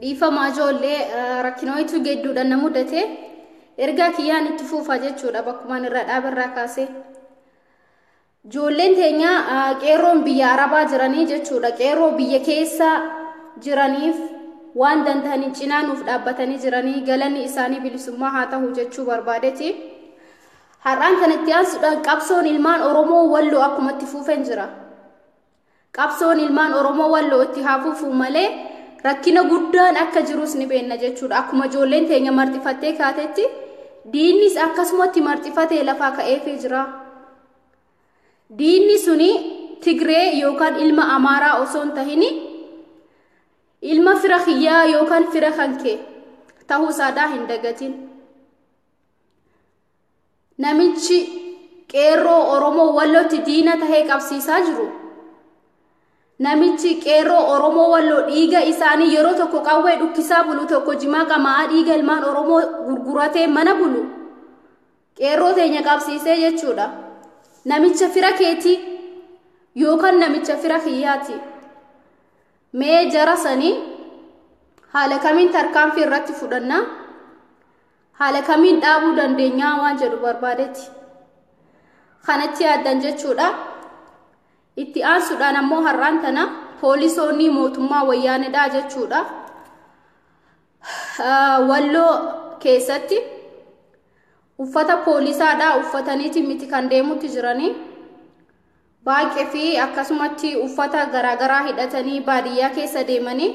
dhiifamaa ijoollee rakkinoitu gedduudhaan na mudate ergaa kiyyaan itti fuufa jechuudha bakkumaan irra dhaabarraa kaasee ijoolleen teenya qeerroon biyya arabaa jiranii jechuudha qeerroo biyya keessa jiraniif waan danda'aniin cinaa nuuf dhaabbatanii jiranii galanni isaanii bilisummaa haa ta'u jechuu barbaadeti har'aan kanatti aansuudhaan qabsoon ilmaan oromoo walloo akkumatti fuufeen jira Qabsoon ilmaan Oromoo Walloo itti haa fufuu malee rakkina guddaan akka jirus ni beenna jechuudha. Akkuma ijoolleen teenya marxifattee kaatetti diinnis akkasumatti marxifatee lafaa ka'eefii jira. Diinni suni Tigree yookaan ilma Amaaraa osoo hin tahin ilma fira kiyyaa yookaan fira kan kee ta'uu isaadaa hin dagatin. namichi qeerroo Oromoo Wallootti diina tahee qabsiisaa jiru namichi qeerroo Oromoo Walloo dhiiga isaanii yeroo tokko qawwee dhukkisaa bulu tokko jimaa qama'aa dhiiga ilmaan Oromoo gurguratee mana bulu qeerroo teenya qabsiisee jechuudha namicha fira keetii yookaan namicha fira kiyyaati mee jara sanii haala kamiin tarkaanfii irratti fudhannaa Haala kamiin dhaabuu dandeenyaa waan jedhu barbaadetti kanatti yaaddan jechuudha. Itti aansuudhaan ammoo har'aan tana poolisoonni mootummaa wayyaanedhaa jechuudha. Walloo keessatti uffata poolisaadhaa uffataniiti miti kan deemutti jiranii. baay'ee fi akkasumatti uffata garaagaraa hidhatanii baadiyyaa keessa deemanii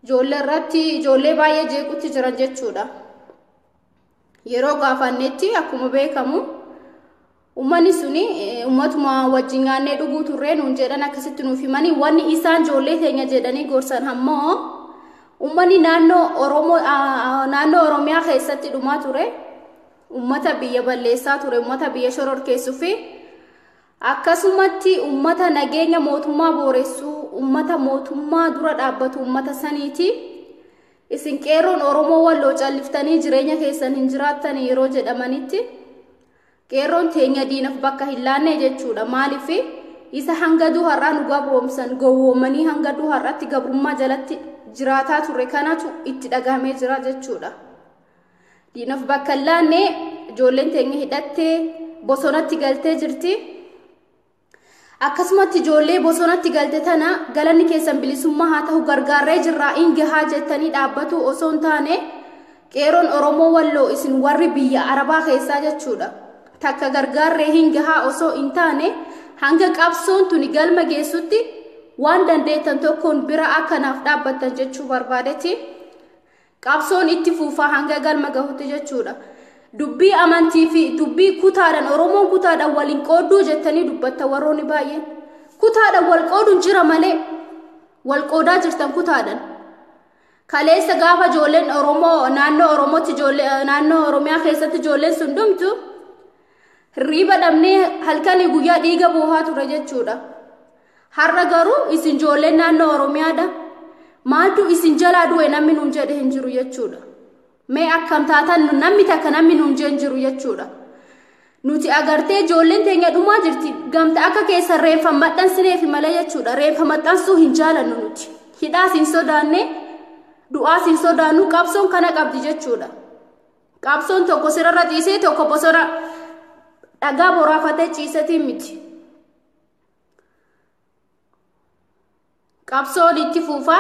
ijoollee irratti ijoollee baay'ee jeequtti jiran jechuudha. Yeroo gaafannetti akkuma beekamu uummanni suni uummatuma wajjin nyaannee dhuguu turree nuun jedhan akkasitti nuuf himanii wanni isaan ijoollee keenya jedhanii gorsan ammoo uummanni naannoo Oromoo naannoo Oromiyaa keessatti dhumaa ture. ummata biyya balleessaa ture ummata biyya shororkeessuu fi akkasumatti ummata nageenya mootummaa booressuu ummata mootummaa dura dhaabbatu ummata saniiti isin qeerroon oromoo walloo calliftanii jireenya keessan hin jiraattan yeroo jedhamanitti qeerroon teenya diinaf bakka hin laanne jechuudha maaliif isa hanga duu har'aa nu gabroomsan gowwoomanii hanga duu har'aatti gabrummaa jalatti jiraataa ture kanatu itti dhagahamee jira jechuudha. Diinaf bakka hin laanne ijoolleen teenya hidhattee bosonatti galtee jirti. Akkasumatti ijoollee bosonatti galte tana galanni keessan bilisummaa haa ta'u gargaarree jirraa in gahaa jettanii dhaabbatuu osoo hin taane qeeroon Oromoo walloo isin warri biyya Arabaa keessaa jechuudha. Takka gargaarree hin gahaa osoo hin taane hanga qabsoon tuni galma geessutti waan dandeettan tokkoon bira akka naaf dhaabbattan jechuu barbaadeti. Qabsoon itti fuufa hanga galma gahutti jechuudha. Dubbii amantii fi dubbii kutaadhaan Oromoon kutaadhaan waliin qoodduu jettanii dubbatta warroonni baay'een. Kutaadhaan wal qooduun jira malee wal qoodaa jirtan kutaadhaan. Kaleessa gaafa ijoolleen Oromoo naannoo Oromootti ijoollee naannoo Oromiyaa keessatti ijoolleen sun dhumtu hirriiba dhabnee halkanii guyyaa dhiiga boohaa ture jechuudha. Har'a garuu isin ijoolleen naannoo Oromiyaadha. Maaltu isin jalaa du'e namni nuun jedhe hin jiru jechuudha. Mee akkam taatan nu- namni takka namni nuun jedhe hin jiru jechuudha. Nuti agartee ijoolleen teenya dhumaa jirti. Gamta akka keessan reeffa maxxansineef malee jechuudha. Reeffa maxxansuu hin jaalannu nuti. Hidhaas hin sodaanne, du'aas hin sodaannu, qabsoon kana qabdi jechuudha. Qabsoon tokko sirarra ciisee tokko bosona dhagaa boraafatee ciisetiin miti. qabsoon itti fuufa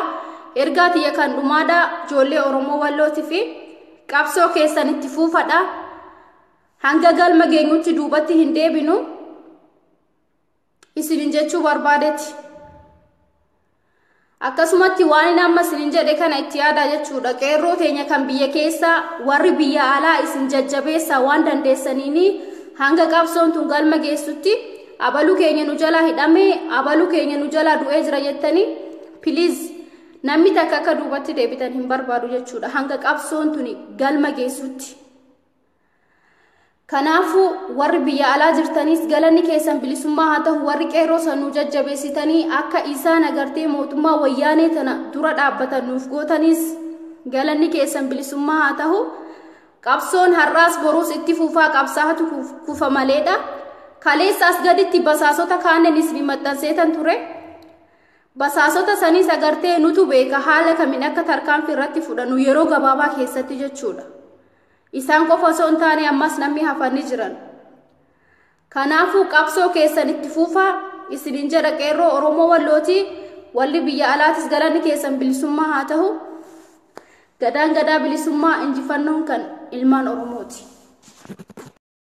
ergaa tiyya kan dhumaadha ijoollee oromoo wallooti fi qabsoo keessan itti fuufadha hanga galma geenyutti duubatti hin deebinu isinin jechuu barbaadeti Akkasumatti waanin amma isinin jedhe kana itti yaadaa jechuudha. Qeerroo teenya kan biyya keessaa warri biyya alaa isin jajjabeessaa waan dandeessaniini hanga qabsoon tun galma geessutti abaluu keenya nu jalaa hidhamee abaluu keenya nu jalaa du'ee jira jettanii piliiz namni takka akka duubatti deebitan hin barbaadu jechuudha. Hanga qabsoon tuni galma geessutti. Kanaafuu warri biyya alaa jirtaniis galanni keessan bilisummaa haa ta'u warri qeerroo sanuu jajjabeessitanii akka isaan agartee mootummaa wayyaanee tana dura dhaabbatan nuuf gootaniis galanni keessan bilisummaa haa ta'u qabsoon har'aas boruus itti fufaa qabsaa'atu kufa maleedha. Kaleessa as gaditti basaasota kaanneen isin maxxanseetan ture. Basaasota saniis agartee nutu beeka haala kamiin akka tarkaanfii irratti fudhannu yeroo gabaabaa keessatti jechuudha. Isaan qofa osoo hin taane ammas namni hafan ni jiran. Kanaafuu qabsoo keessan itti fuufaa isinin jedha qeerroo Oromoo Wallooti walli biyya alaatis galanni keessan bilisummaa haa ta'u. Gadaan gadaa bilisummaa injifannoon kan ilmaan Oromooti.